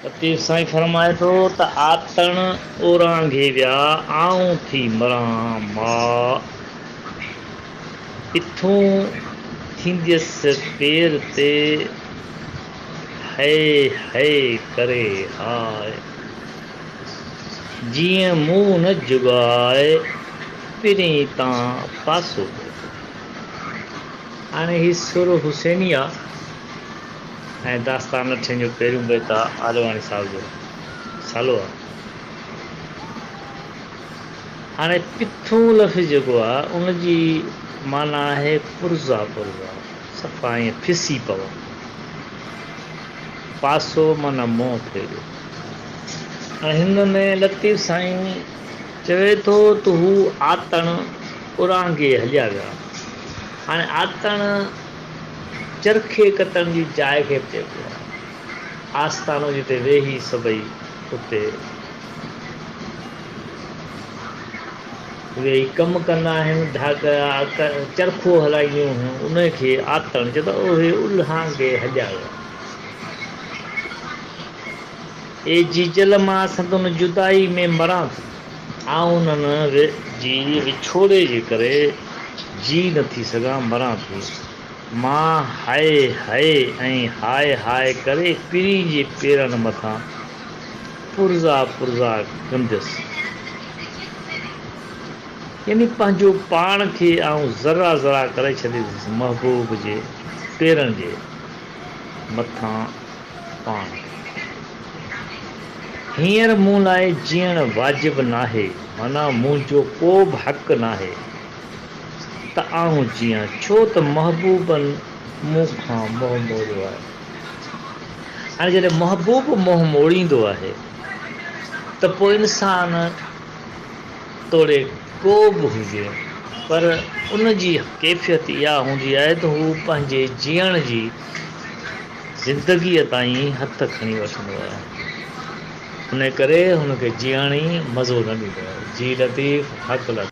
لطيف سائين فرمائي ٿو ته آتڻ اورانگهي ويا آئون ٿي مران ماء اٿون ٿينديس پير تي هئي هئي ڪري هاء جيئن مون نه جڳاء پرين تان پاسو ڪيو. هاڻي هي سر حسيني آ. ۽ داستان اٺين جو پهريون بيت آ آڏواڻي صاحب جو رسالو آ. هاڻي پٿون لفظ جيڪو آ ان جي معنيٰ آهي پرزا پرزا صفا ائين پسي پوء. پاسو معنيٰ منهن ڦيريو. هاڻي هن ۾ لطيف سائين چوي ٿو ته هو آتڻ اورانگهي هليا ويا. هاڻي آتڻ. چرخي ڪتڻ جي جاء کي به چئبو آهي. آستانو جتي ويهي سڀئي اتي ويهي ڪم ڪندا آهن. ڌاڳا چرخو هلائينديون هيون ان کي آتڻ چئبو آهي. اهي الهانگي هڏيا ويا. اي جيجل مان سندن جدائي ۾ مران ٿي. آئون انهن جي وڇوڙي جي ڪري جيء نه ٿي سگهان، مران ٿي. مان هئي هئي ۽ هاء هاء ڪري پرين جي پيرن مٿان پرزا پرزا ڪنديس. يعني پنهنجو پاڻ کي آئون ذرا ذرا ڪري ڇڏينديس محبوب جي پيرن جي مٿان پاڻ. هينئر مون لاء جيئڻ واجب ناهي، معنيٰ منهنجو ڪو به حق ناهي ته آئون جيئان، ڇو ته محبوبن مون کان منهن موڙيو آهي. هاڻي جڏهن محبوب منهن موڙيندو آهي ته پوء انسان توڙي ڪو به هجي پر ان جي ڪيفيت اها هوندي آهي ته هو پنهنجي جيئڻ جي زندگيء تائين هٿ کڻي وٺندو هو. انهيء ڪري هن کي جيئڻ ئي مزو نه ڏيندو هو. جي لطيف، حق لطيف.